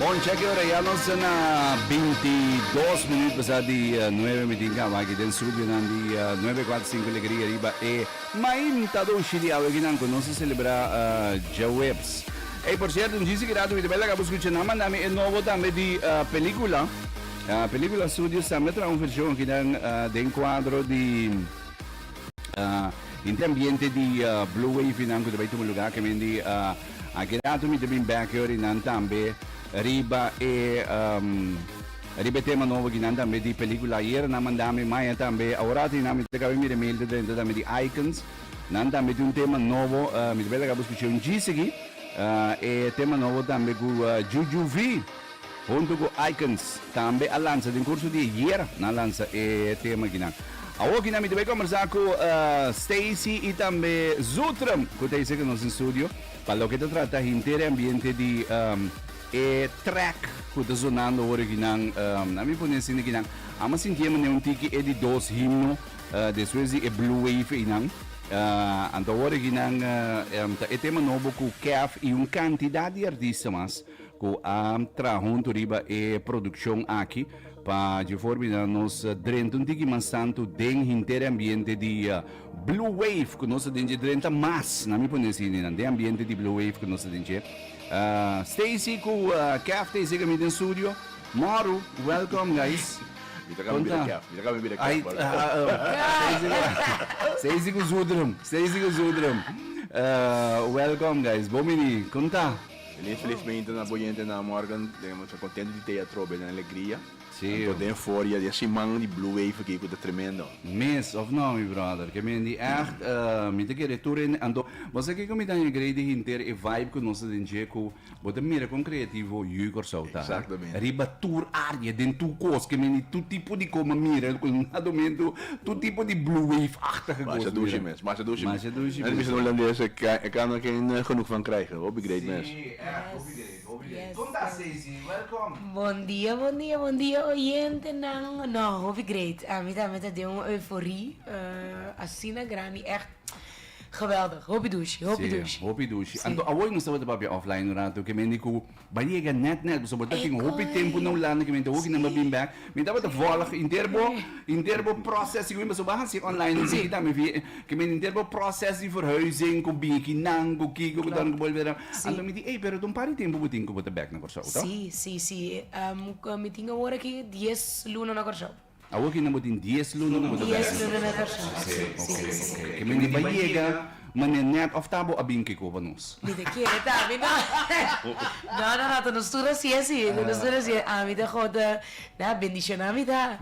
Bon cheki ora ya nos ta na binti dos minuut pasá di nuebe mi tin kaba aki den studionan di nuebe kuater sinku Alegria riba e mainta doshi di awe kinan ku nos ta selebrá djaweps. Ey, por cierto, un djisi keda dubida, belak abo skucha nan manda mi e nobo tambe di pelikula. Pelikula Studios tambe tra un vershon aki nan den kuadro di inti ambiente di Blue Wave nan ku ta bai tuma luga kemen di akidatu mi ta bin bek yor i nan tambe riba e riba e tema nobo aki nan tambe di pelikula. Ayer nan manda mi maya tambe, awor a tin nan mi ta kabe mira e mail ta drenta tambe di Icons. Nan ta mete un tema nobo, uh, mi ta bela gabo scucha un gist aquí. Uh, e tema nobo tambe cu uh, Juju V, junto cu Icons, tambe a lanza den curso di ayer, na lanza e tema aquí nan. Awo aquí nan mi ta bela conversa cu uh, Stacy y tambe Zutrum, cu ta ese que nos in studio, pa lo que ta trata hintere ambiente di um, e track cu ta zonando ora aquí nan, um, a mi pone sin aquí nan, ama sintiema ne un tiki e di dos himno, Despues di e Blue Wave einan, anto awor aki nan ta e tema nobo ku Kef i un kantidat di artista mas ku a traha huntu riba e produkshon aki pa dje forma di nos drenta un tiki mas tantu den henter e ambiente di Blue Wave ku nos ta den dje drenta mas, nan mi pone asi einan, den ambiente di Blue Wave ku nos ta den dje. Stacy ku Kef ta esei ku mi den studio. Maru, welcome guys. Mi ta kami bira kèf, mi ta kami bira kèf por Sey Sey si ku zudrum, sey si ku zudrum. Welkom guys, bon bini, kon ta? Bini felizmente na bo yentenan morgan, nos ta kontento di tei atrobe den alegria, tanto den for ya den siman di blue wave aki ku ta tremendo. Mes, of no mi brother? Ke men di ègt, mi ta kere tur hende anto, bo sa kiko mi ta hengreidi hinter e vibe ku nos ta den dje ku. Bo ta mira kon kreativo yu Kòrsou ta riba tur área, den tur kos ke men di tur tipo di kos, m'a mira ku na domintu tur tipo di blue wave-achtige kos. Masha dushi mes, masha dushi mes. Masha dushi mes. Nan bisa hulandes e kano a ken genoeg van krijgen. Hopi great mes. Sí, ècht hopi great, hopi great. Kom ta Stacy, wèlkòm. Bon dia, bon dia, bon dia oyentenan. No, hopi great. Mi tambe ta den un euforie asina grandi, ècht. Geweldig, hopi dushi, hopi dushi. Si, hopi dushi. Anto awor nos tabata papia offline un rato ke mende ku bai yega nèt nèt pasobra ta tin hopi tempu na Hulanda ke mente hoki nan bai bin bèk. Mi tabata vòlg henter bo henter bo pròsès di kuminda pasobra bo a hasi online un tiki tambe via ke mende henter bo pròsès di verhuizing ku biki nan ku kiko ku dònde ku bolbe nan. Anto mi di ey pero ta un par di tempu bo tin ku bo ta bèk na Kòrsou, to? Si, si, si. Mi tin awor aki dies luna na Kòrsou. Awor ki nan bo tin dies luna nan bo ta bèsa. Dies luna nan ta bèsa. Así, ok, ok. Ke mene bai yega manera nèt òf ta bo a bin kiko pa nos? Mi ta kere ta ami no. No, no, no, ta nos tur así, así, ta nos tur así. Ami ta God ta da bendishoná mi ta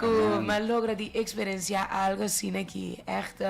ku mi a logra di eksperensiá algu asina ki ègt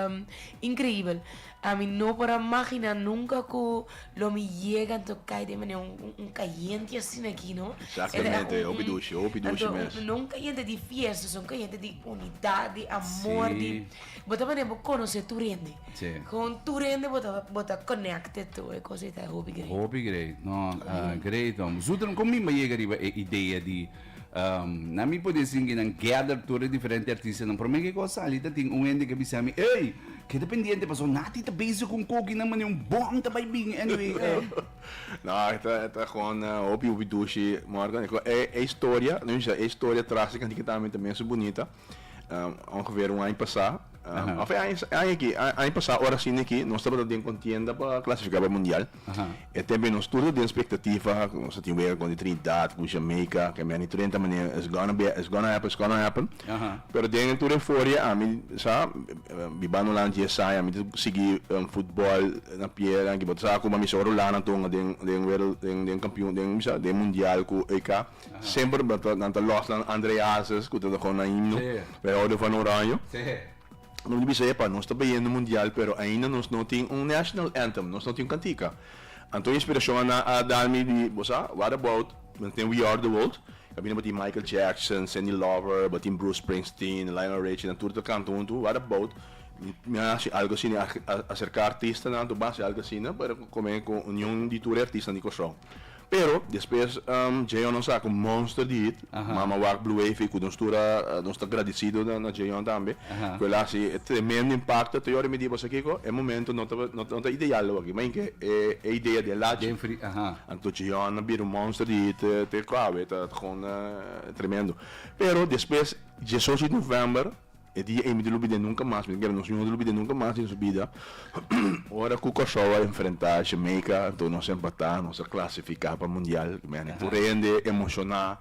increíbel. Ami no por a magina nunca cu lo mi yega anto cay den mane un cayente asina aquí no. Exactamente, hopi dushi, hopi dushi mes. Anto no un cayente di fiesta, so un cayente di unidad, di amor, sí. di bota mane bo conoce tu rende. Sí. Con tu rende bota bota connected to e cosa ita hopi great. Hopi great, no, uh, great om. Zutren, con mi yega riba e idea di Na mi por disingi nan gather tur e diferente artistanan. Prome ke ku a sali ta tin un hende ke bisa mi, Ey, keda pendiente paso Natty ta bezig ku un kokinan mane un bom ta bai bin anyway. No, e ta e ta gewoon hopi hopi dushi, Morgan. E historia, lo misha, e historia tras di kantikatambe ta mester bunita. Um, ongeveer un año pasá. Um, of año, año aquí, año pasá, ahora sí aquí, nos estamos en contienda para clasificar para mundial. E también nos todos de expectativa, nos a tiwega con Trinidad, con Jamaica, que me han 30 manera, it's gonna be, it's gonna happen, it's gonna happen. Pero den toda euforia, a mí, sa, bibano lang 10 años, a mí seguí um, fútbol na pie, lang, que bota sa, como a mí solo lana tonga den, den, den, den campeón, den, sa, den mundial, cu EK. semper nan ta nan ta los nan Andre Hazes cu ta toca una himno we hou di Fano Oranje nos di bisa epa nos ta beyendo mundial pero ainda nos no tin un national anthem nos no tin un cantica anto inspiracion a na a dar mi di bo sa what about nan ta den We Are The World caminda bo tin Michael Jackson Cyndi Lauper bo tin Bruce Springsteen Lionel Richie nan tur ta canta hunto what about mi a haci algo asina a acerca artistanan to bo haci algo asina pero cu come cu union di tur e artistanan di Kòrsou. Pero despues Jayon a saka un monster di hit, Mama Wak, Blue Wavy, ku nos tur a, nos ta gradisido na Jayon tambe, ku el a hasi e tremendo impakto. Te yora mi di bo, sa kiko? E momentu no ta, no ta ideal awor, ma yinke e idea di e lachi. Anto Jayon a bira un monster di hit te kua awe, ta, ta, kon tremendo. Pero despues diesocho di novèmber. E dia ei mi ta lubid'é nunka mas, mi ta kere nos mi no ta lubid'é nunka mas den nos bida. Ora ku Kòrsou a enfrentá Jamaica anto nos a empatá, nos a klasifiká pa mundial, mi a puru hende emoshoná,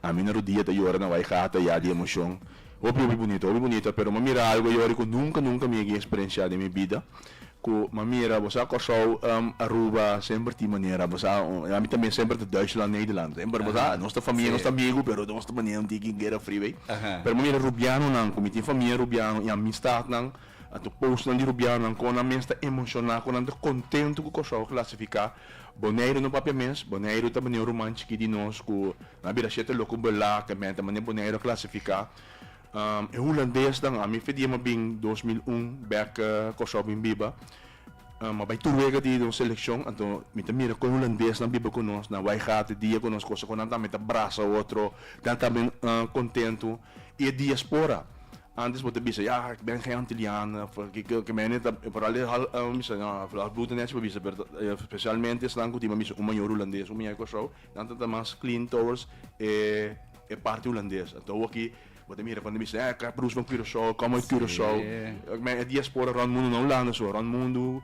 a mi na rodia ta yora na bai gata ya di emoshon, hopi hopi bunita, hopi bunita, pero mi a mira algu ayori ku nunka nunka mi a ke eksperensiá den mi bida, Cu ma mira bo sa Corsou, Aruba semper tin manera bo sa ami tambe semper ta Duitsland Nederland semper bo sa nos ta famia nos ta amigo pero nos ta manera un tin ki guera fri bay pero ma mira Rubiano nan cu mi tin famia Rubiano y amistad nan a tu post nan di Rubiano nan con nan mes ta emociona con nan ta contento cu Corsou a clasifica Boneiru no papia mes Boneiru ta manera un ruman chiki di nos cu nan a bira shete loco bela kemente manera Boneiru a clasifica. E hulandesnan, ami fe di e mabin dos mil un bek Kòrsou bin biba. A bai tur wega di nos selekshon, anto mi ta mira kon e hulandesnan biba ku nos, nan wai gata e dia ku nos kosa ku nan tambe ta brasa otro, nan tambe kontentu. I e diaspora, antes bo ta bisa, ya, ik ben gen antiliano, ke mene ta, foral e half, mi bisa, no, halfbloed ta nesha pa bisa, pero spesialmente esnan ku tin pa bisa un mayor hulandes, un mayor Kòrsou, nan ta mas clean towards e E parti Hulandes. Anto awaki bo ta mira kuantu mi siña, eh, Kap Bruce from Curaçao, kom uit Curaçao. Si. Men e diaspora rònt mundu, no Hulanda su, rònt mundu,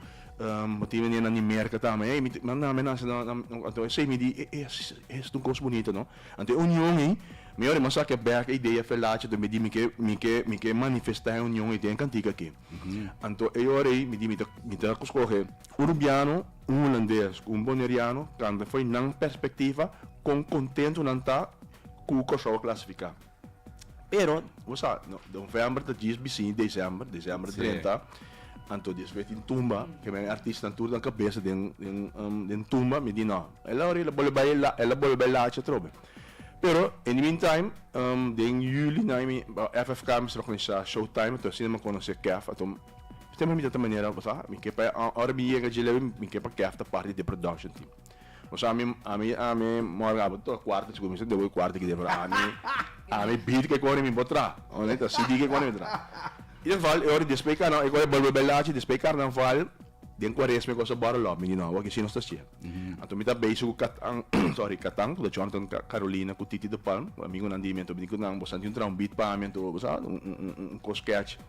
bo tin menen na Nimerka tambe, ey, mi tin, nan, nan, mi nan, nan, nan, nan, anto esei mi di, eh, eh, si, si, eh, esei un kos bunito, no. Anto e union ei, mi ora mi a sakia bèk e idea Felachi, anto mi di mi ke, mi ke, mi ke manifestá e union ei den e kantik aki. Anto e ora ei mi di mi ta, mi ta, ku skohe. Un rubiano, un hulandes cu un boneriano canta fo'i nan perspectiva con contento nan ta cu Curaçao a clasifica. Pero, bo sa, november ta djis bisini december, december a drenta, anto di espe tin tumba, ke men artisnan tur nan cabeza den den tumba, mi di no, el a ora el a bolbe bay la, el a bolbe bay lacha atrobe. Pero, in the mean time, den juli nan mi, FFK mi staba con Showtime, ato asina mi a conoce Kef, ato. Siempre mi ta ta manera bo sa mi ke pa ora mi yega dje lewe mi ke pa kèf ta parti di production team bo sa ami ami ami morgan abo ta tok kwarta chico mi sa dewe kwarta kede pero ami ami beat ke kore mi bo traha ora ta cd ke kore mi bo traha i geval e ora despues di karnaval e kor a bolbe belachi despues di karnaval den kuaresma e kos a bòrò lòp mi di no awor ke shi nos ta shia anto mi ta beishi ku kat ang sorry katang ku ta chòrntè ku carolina ku titi de palm amigonan di mi anto mi di ku nan bo sa tin traha un beat pa mi anto bo sa un un un kos kèchi.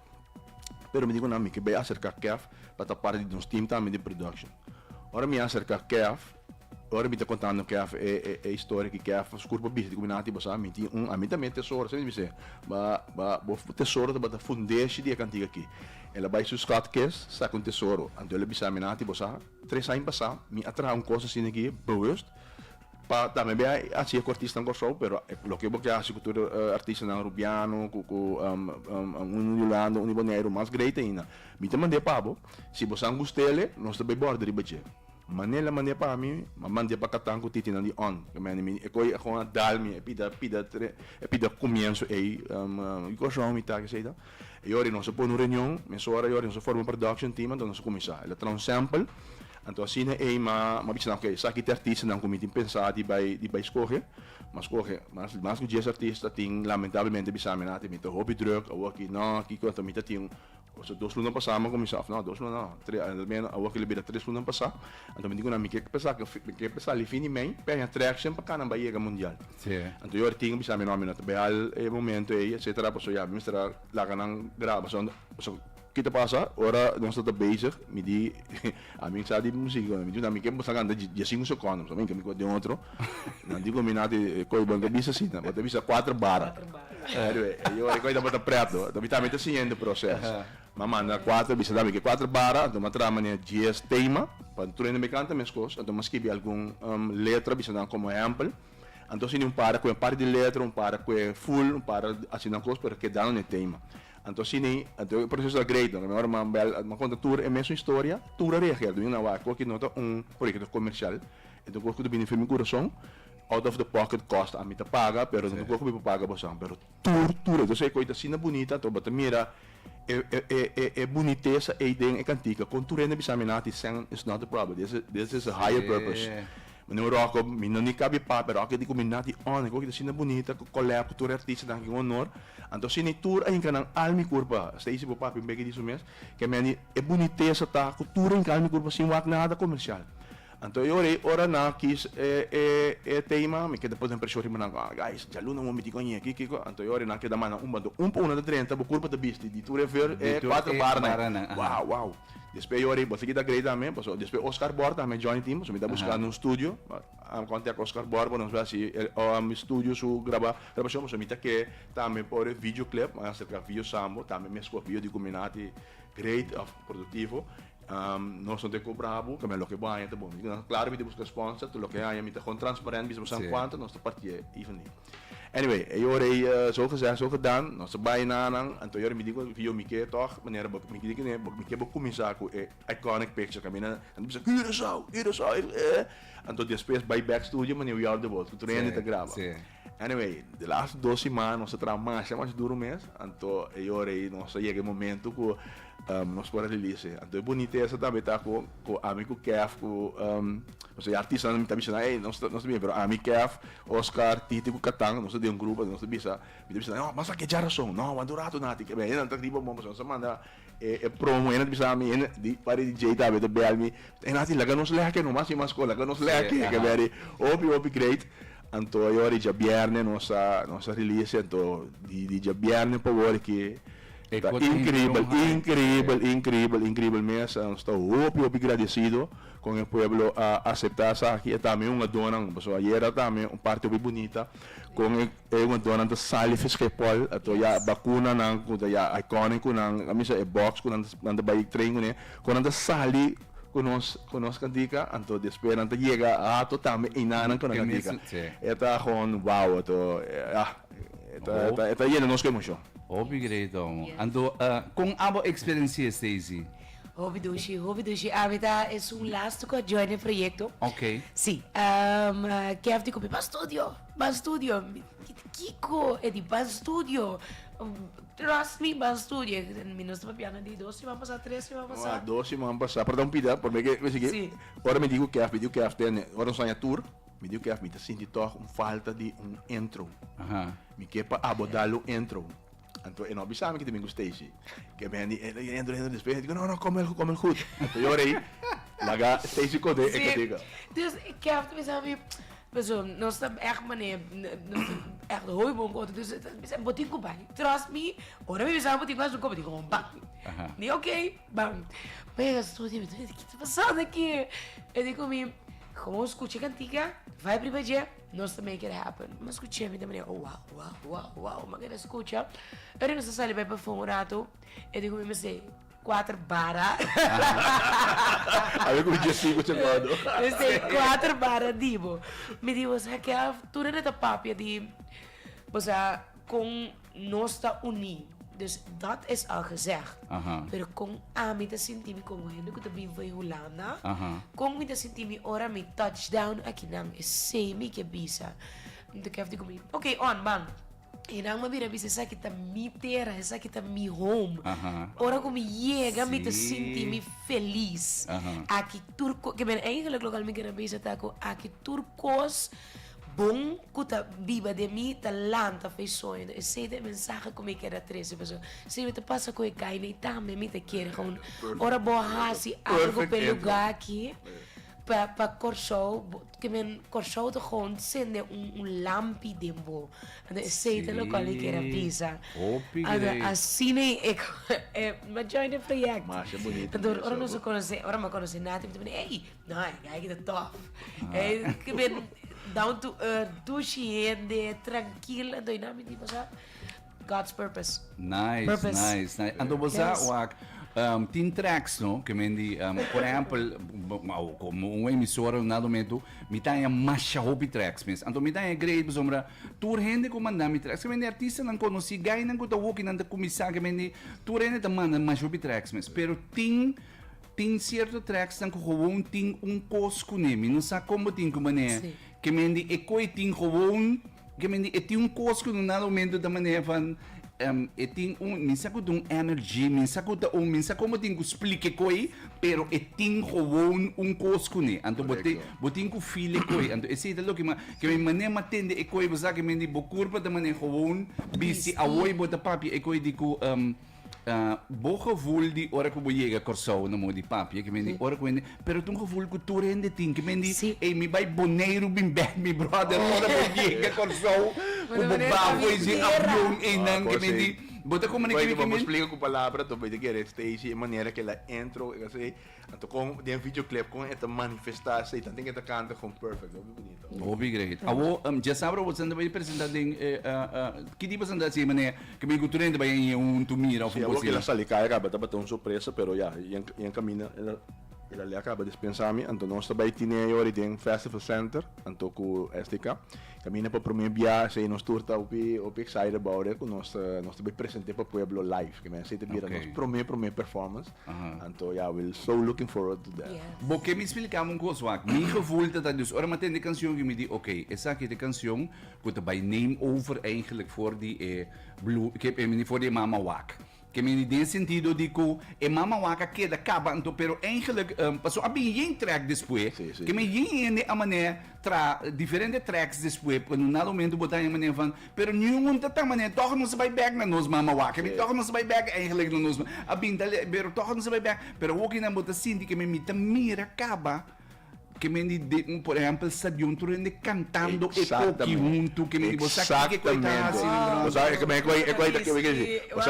Pero mi di ku nan mi ke bai aserká Kev pa ta parti di nos team tambe di production. Ora mi aserká Kev, ora mi ta kontando Kev e e historia ki Kev a skur pa bisa di ku mi nan a tiba sa, mi tin un ami tambe tesoro, esei mi sê ba ba bo tesoro tabata fundeshi di e kantiga aki. El a bai su schatkist saka un tesoro, anto el a bisa mi nan a tiba sa, tres aña pasá mi a traha un kos asina aki bewust Pa tambe bay haci e cortis nan Corsou pero loke bo ke haci cu tur e artistanan Rubiano cu cu uni di Hulanda uni di Boneiru mas great ainda mi ta mande pa bo si bo san gustele nos ta bay borde riba dje manera lo mande pa mi a mande pa catan cu titinan di on ke mende mi e coy a con a dal mi e pida pida e pida comienzo ey di Corsou mi ta esey ta E ora nos a pone un reunion, mesora e ora nos a forma un production team, anto nos a cuminsa. El a traha un sample, anto asina ey ma a bicha nan, ok, esaki ta e artistanan cu mi tin pensa di bay di bay scoge, m'a scoge, mas mas cu dies artista tin lamentablemente bisa mi nan, mi ta hopi druk, awo aki no, kico, anto mi ta tin, so dos luna pasa m'a cuminsa, of no, dos luna no, tres, al menos awo aki lo bira tres luna pasa, anto mi di cu nan, mi ke pesa, mi ke pesa li fin di mey, p'e haña traction pa Cananba yega mundial. Sí. Anto yo a tin a bisa mi no, mi no ta behal e momento ei etcetera paso ya mi mester a laga nan graba paso anto paso kit a pasa ora nos ta ta bezig mi di a mi sa di musiki mi di mi ke basta kanta di dia sinku secondo paso mi ke mi ko den otro nan di ku mi na te e koi bo ta bisa asina bo ta bisa cuatro bar anyway e yo e koi tabata preto mi ta mi ta siguiente proces mi manda cuatro bisa dame ke cuatro bar anto mi a traha manera dies tema pa anto tur hende mi kanta mes kos anto mi a skibi algun letra bisa nan como ehempel. Anto asina un para cu e parti di letra, un para cu e full, un para asina nan cos, pero kedando na e tema. Anto asina, anto e proceso ta great, no? Mehor nan bel, nan conta tur e mesun historia, tur a reagera. Dunga nan wak cu aki no ta un proyecto comercial, e ta un cos cu ta bini firme curason, out of the pocket cost, ami ta paga, pero no ta un cos cu mi por paga boso, pero tur tur entonces e koi ta asina bunita anto bo ta mira e e e e bunitesa ei den e kantika kon tur hende a bisa mi nan a ti sèn is not a problem this is this is a higher purpose mi no ròkò mi no ni kabi pa pero aki di ku mi nan a ti ònè ku aki ta asina bunita ku kòlèp ku tur e artistanan aki ku onor anto si ni tur a hinka nan alma i kurpa Stacy bo papia un beke di su mes ke meni e bunitesa ta ku tur a hinka alma i kurpa sin wak nada komersial Anto e ora ei ora na kies e e e tema mi keda pone preshon riba nan kong guys djaluna moe miti koñe aki kiko anto e ora ei nan keda manda un bando un pa una ta drenta bo kurpa ta bisti di tur e veur e kuater barra nan wou wou despues e ora ei bo a sigui ta grei tambe pasobra despues Oscar Bor tambe a join tin pasobra mi ta buskando un studio a kontak Oscar Bor pa nos hasi e mi studio su graba grabashon pasobra mi ta ke tambe por e video klep a aserka Vio Sambo tambe mi a skopi yo di kuminan ti great of produktivo. Nos no te cobra bo, caminda loke bo haña ta bon. Mi ta claro mi ta busca sponsor, ta loke haña mi ta con transparent bisa bo sa cuanto nos ta parti'e y van di. Anyway, e ora ey so gezegd so gedan, nos ta bay na nan, anto e ora mi di cu yo mi ke tog manera bo mi di cu ne mi ke bo cuminsa cu e iconic picture caminda nan ta bisa Curaçao, Curaçao, anto despues bay back studio manera we all the world cu Trendy ta graba. Anyway, di laatste dos siman nos ta traha masha masha duru mes, anto e yor ei nos ta yega e momento ku nos por a release. Anto e bunitesa tambe ta ku ku ami ku Kef ku nos ta bai artistanan mi ta bisa nan ey nos ta nos ta bien pero ami Kef, Oscar, Titi ku Katan nos ta den un grupo nos ta bisa mi ta bisa nan ey nos ta bisa nan ey basa ke djarason no wan duratu nati ke bende nan ta riba bon pasobra nos ta manda E e promo ena ta bisa mi ena di pari di Jay tambe ta bel mi e na tin laga nos leke no mas mi mas ko laga nos leke ke beri hopi hopi great anto e ora di djabièrnè nos a nos a release anto di di djabièrnè pa wor ke ta inkribel inkribel inkribel inkribel mes a nos ta hopi hopi gradesido kon e pueblo a aseptá esaki e tambe un adonan pasobra ayera tambe un parti hopi bunita kon e. E jugadornan ta sali fiske pòl ato ya bakuna nan ku ta ya iconic ku nan a misa e box ku nan nan ta bai train kuné kon nan ta sali ku nos ku nos kantika anto despues nan ta yega ato tambe einan nan ku nan kantika e ta gewoon wow ato ya e ta e ta e ta yena nos ku emocion. Hopi great amo anto kon abo experensieé Stacy? Hopi dushi hopi dushi ami ta es un lastuko a join e proyekto si kèfti ku mi pa studio Ban studio, kiko e di ban studio? Trust me ban studio, mi no staba piensa di dos siman pasa, tres siman pasa. Ua dos siman pasa, por ta un pida, por mi ke mi sigi, Sí. ora mi di ku Kef, mi di ku Kef den, ora nos haña tur, mi di ku Kef mi ta sinti tòg un falta di un intro, Aha. mi ke pa abo dal un intro. Anto e no bisa mi ki tin bin ku Stacy. Ke mi hende e henter henter despues henter no no kome el kome el gud. Anto yo rei laga Stacy kode e katika. Si dus Kev ta bisa mi paso nos ta ègt manera nos ta ègt hoi bon ku otro dus ta bisa bo tin ku bai trust me ora mi bisa bo tin ku bai su kòp a tin kòp bam mi ok bam mi a studi mi ta bisa kit ta pasand aki e di ku mi komo skucha e kantika bai priba dje. Nos ta make it happen. Nos scuch'é mi ta mania oh wow wow wow wow ma keda scucha. Ora nos ta sali bai perfum un rato e dico mi mester cuater bara. Awe cu dje sico ce guardo. Mester cuater bara dibo. Mi di bosa Kev tur e ta papia di bosa con Nos ta uní, dus dat is al gezegd. Pero kon ami ta sinti mi komo hende ku ta biba den Hulanda? Kon mi ta sinti mi ora mi touch down akinan? Esei mi ke bisa. Mi ta kefti ku mi, ok on, ban. E nan mi a bira bisa esaki ta mi tera, esaki ta mi home. Ora ku mi yega mi ta sinti mi felis. Aki tur kos, ke mi na engelek lokal mi kere bisa ta ku aki tur kos. Bon ku ta biba den mi ta lanta f'e soño. Esei ta e mensahe ku mi keda trese paso siñor ta pasa ku e kaina i tambe mi ta kere houn. Ora bo a hasi algu p'e lugá aki pa Kòrsou ke men Kòrsou ta houn sende un lampi den bo. Anto esei ta loke mi keda bisa. Anto asina e major di e proyèkto. Anto ora nos a konosé, ora mi a konosé Natty mi ta bini ey No, e guy kita tof. E kiben down to earth, dushi hende, trankil. Anto i nami di bosa? God's purpose. Nice, Purpose. nice, nice. Anto bosa Yes. wak um, tin tracks no ke men di um, por ejempel b- b- au, como un emisora na dometu mi taña masha hopi tracks mes. Anto mi taña great besombra tur hende ku manda mi tracks. Ke men di artistanan konosí, gainan ku ta hokinan ta kumisá ke men di tur hende ta manda masha hopi tracks mes. Pero tin Tin cierto tracksnan cu gewoon tin un cos cune. Mi no sa con bo tin cu mane ke men di e coe tin gewoon ke men di e tin un cos cu na momento ta mane van e tin un mi sa cu ta un energy mi sa cu ta un mi sa con bo tin cu splica e coe pero e tin gewoon un cos cune anto bo tin bo tin cu feel e coe anto esey ta loke ma ke men mane ma tende e coe bo sa ke men di bo curpa ta mane gewoon bisti awoy bo ta papia e coe di cu. Uh, bo gevoel di ora ku bo yega Kòrsou na mo di papia ke mendi ora ku hende pero tun gevoel ku tur hende tin ke mendi si. e mi bai Boneiru bin bek mi brother ora bo yega Kòrsou ku bo bafo e si avion e nan ke mendi bo ta komunikimi ke men explica ku palabra to bete ke resteishi e manera ke la entro e kasi Anto kon den videoclip kon e ta manifesta esta i tanti ke ta kanta kon perfect hopi bonito. Hopi great. Awo dje sabra awor esnan ta bai presenta den e ki tipo presentacion e manera ke mi ku tur hende ta bai a iña huntu mira of un cos asina. Sali kaya kaba tabata un sorpresa pero ya i a kaminda el a lei a kaba dispensami anto nos ta bai tine e ora den festival center anto ku STK Caminda pa prome bia esey nos tur ta hopi hopi excited about it cu nos ta nos ta bay presente pa pueblo live que mester esey ta bira nos prome prome performance anto ya we so looking forward to that. Bo ke mi splikami un cos wak, mi gevoel ta ta dus ora mi a tende e cancion yo mi di ok esaki ta e cancion cu ta bay name over eigenlijk for di e blue for di e mama wak Ke mindi den sentido di ku e mama waka keda kaba anto, pero eigenlik paso a bin yen trek despué. Ke men yen hende a manera tra diferente treks despué pa no na lomentu bo ta yen manera van pero niun un ta ta manera tòg nos a bai bèk na nos mama waka mi tòg nos a bai bèk eigenlik na nos a bin ta pero tòg nos a bai bèk pero awokinan bo ta sinti ke men mi ta mira kaba Ke men di de un por ehèmpel sta diuntro den de kantando e koki huntu ke men di bo sa kiko ku ey ta hasi den Wow! Bo sa kiko ku ey ta hasi. Wow!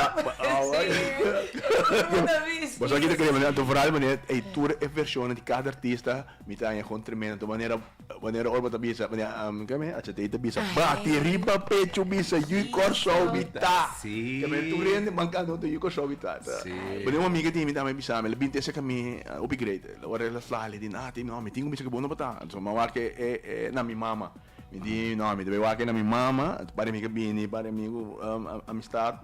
Bo sa kiko ku ey ta hasi. Vooral wanneer ey tur e vershonnan di kada artista mi ta haña gon tremendo tu manera wanneer ora bo ta bisa keme HT ta bisa bati riba pechu bisa yu Kòrsou mi ta ke men tur hende man kanta huntu yu Kòrsou mi ta ta. Bo den un amiga di mi ta bisa mi lo binte seka mi hopi great. Ora el a fla, el a di, Nah, tin no, mi tin kumbichi ku bo no por ta, anto mi wak e na mi mama. Mi di, No, mi ta bai wak e na mi mama, anto pare mi ke bini pare mi ku amistat.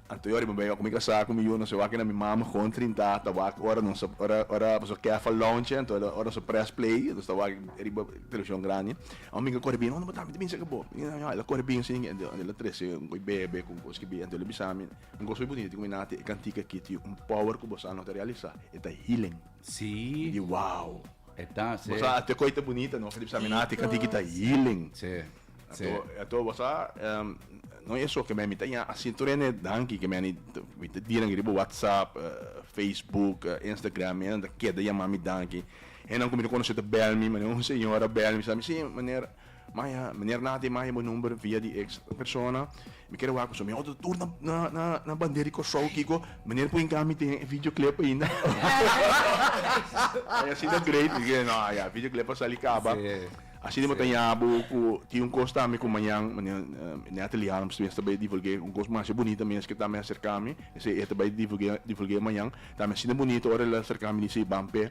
Anto yo riba bai, ku mi kasá ku mi yu, nos a wak e na mi mama kon trintá, ta wak ora nos a, ora, ora boso kèf a lonchi, anto el a, ora nos a près play, nos ta wak riba televishon grandi. Ora mi ke kore bini, No, no por ta, mi ta binse ke bo. Mi di, No, no, el a kore binse, anto el a trese un ko'i bebe ku un kos ki bini, anto el a bisa mi. Un kos muy bunito di kumina te e kantika aki tin un power ku bossa nova ta realisa e ta healing. Sí. Mi di wow. E ta seh. Bossa ate koi ta bunita no di bisa mi na te kantika ki ta healing. Sí. Sí. Ato ato bossa no e so ke meni ta ya asi tur ene danki ke meni ta dira nan riba whatsapp, facebook, instagram mi nan ta keda yama mi danki. Henan ku mi ta konosé ta bel mi manera un señora bel mi sa mi si meneer. Maya, Meneer Nati, maya bo number via di ex persona. Mi kier wak ku su. Mi oto tur na, na, na, na bander di Kòrsou, Kiko. Meneer pui nka mi tin e videoclip ainda. Maya, Asi ta great. Mi kier, No, ya, videoclip a sali kaba. Asina mi bo ta yaha bo ku tin un kos tambe ku mañan, meneer Nati Leal, mi sta bai divulg'é un kos masha bunita mes ke tambe a serka mi. Esei e ta bai divulg'é, divulg'é mañan. Tambe asina bunita ora el a serka mi di Seiban p'e.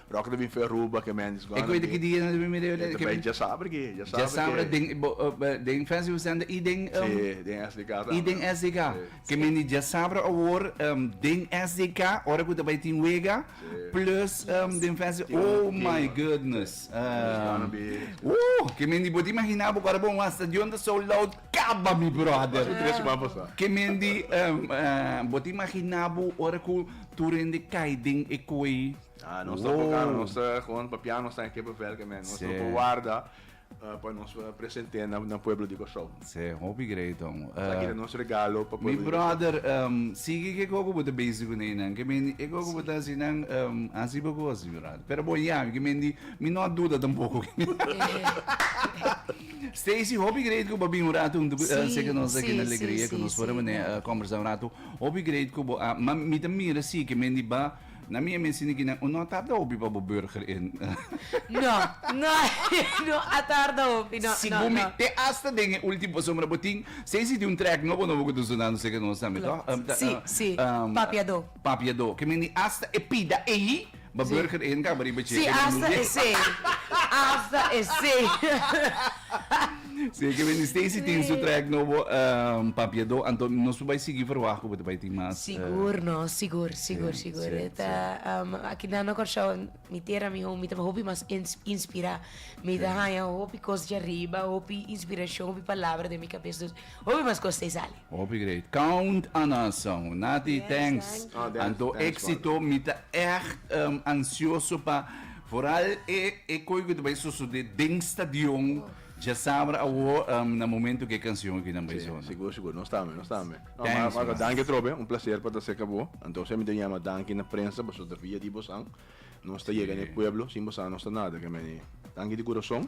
Rocky ta bin fe Aruba ke Mandy's gone. E koe di ki dia nan ta bin mira e. Tabei djasabra ki, djasabra ki. Djasabra den den Fancy West End i den. Si, den SDK tambe. I den SDK. Ke men di djasabra awor den SDK ora ku ta bai tin wega plus den Fancy oh my goodness. It's gonna be. Ooh ke men di bo ta imagina bo ku ora bo wan stadion ta sold out kaba mi brother. Paso tres siman pasa. Ke men di bo ta imagina bo ora ku tur hende kai den e koe. Ah, nos ta boka, Wow. nos ta gewoon papiá, nos ta en Keppe Velke, man. Nos Sê. lopo warda ah, pa nos ah, present'é na, na pueblo di Kòrsou. Se, hopi great, homo. Sa Eh, kira nos regalo pa pueblo mi di Kòrsou. brother, em, sigui ke koko bo ta bezi ku neinan. Ke men di, e koko bo ta hasi nan, em, hasi bo kos, mi brother. Pero bon, ya, ke men di, mi no a duda tampoko. Stacy, hopi great ku bo a bin un ratu huntu ku eh, Sí, seke nos aki sí, na sí, Alegria, ku sí, nos por sí, abon'é ya. eh, kombersá un ratu. Hopi great ku bo a, ma mi ta mira si ke men di ba Na mi e mester niki nan. No a tarda hopi pa bo burger e. No, no, no a tarda hopi, no, no, no. Si bo mi te asta den e ulti bo sombra bo tin sei si tin un track nobo nobo ku ta sona no seke nos tambe toh. Klopt, si, si, Papiado. Papiado, ke meni asta e pida eyi ba burger e, nan kaba riba che. Si asta esei, asta esei. Sí, que ben Stacy tin su track nobo um, Papiado, anto nos bai sigui verwacht ku bai tin mas. Sigur, no, sigur, sigur, sí, sigur. Sí, Eta, sí. Um, aki na no Kòrsou, mi tera mi home, mi taba hopi mas ins, inspira. Mi ta haya hopi kos di arriba, hopi inspiracion, hopi palabra den mi cabes. Dus, hopi mas kos te sali. Hopi great. Count on us Anhu. Nati, thanks. Anto exito. Mi ta echt ansioso pa vooral e e koe cu ta bay sosode den stadion djasabra awor na momento cu e cancion aki nan bay sona. Sigur, sigur. Nos tambe, nos tambe. Thanks man. Marco, danki trobe. Un placer pa ta cerca bo. Anto esey mi ta yama danki na prensa pasobra ta via di bosan. Nos ta yega na e pueblo sin bo sa nos ta nada ke mene tanki di kurason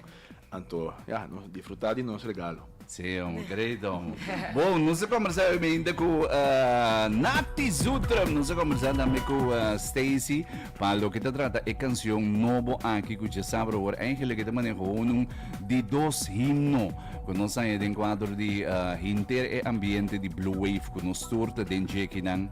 anto ya nos difrutá di nos regalo. Sí hombre, great hombre. Bo, nos a kombersá hoy mainta ku Natty Zutrum. Nos a kombersá tambe ku Stacy pa loke ta trata e kanshon nobo aki ku dje sabru awor eigenlik e ta manehó unun di dos himno ku nos haña den kuadro di hinter e ambiente di Blue Wave ku nos tur ta den djekinan.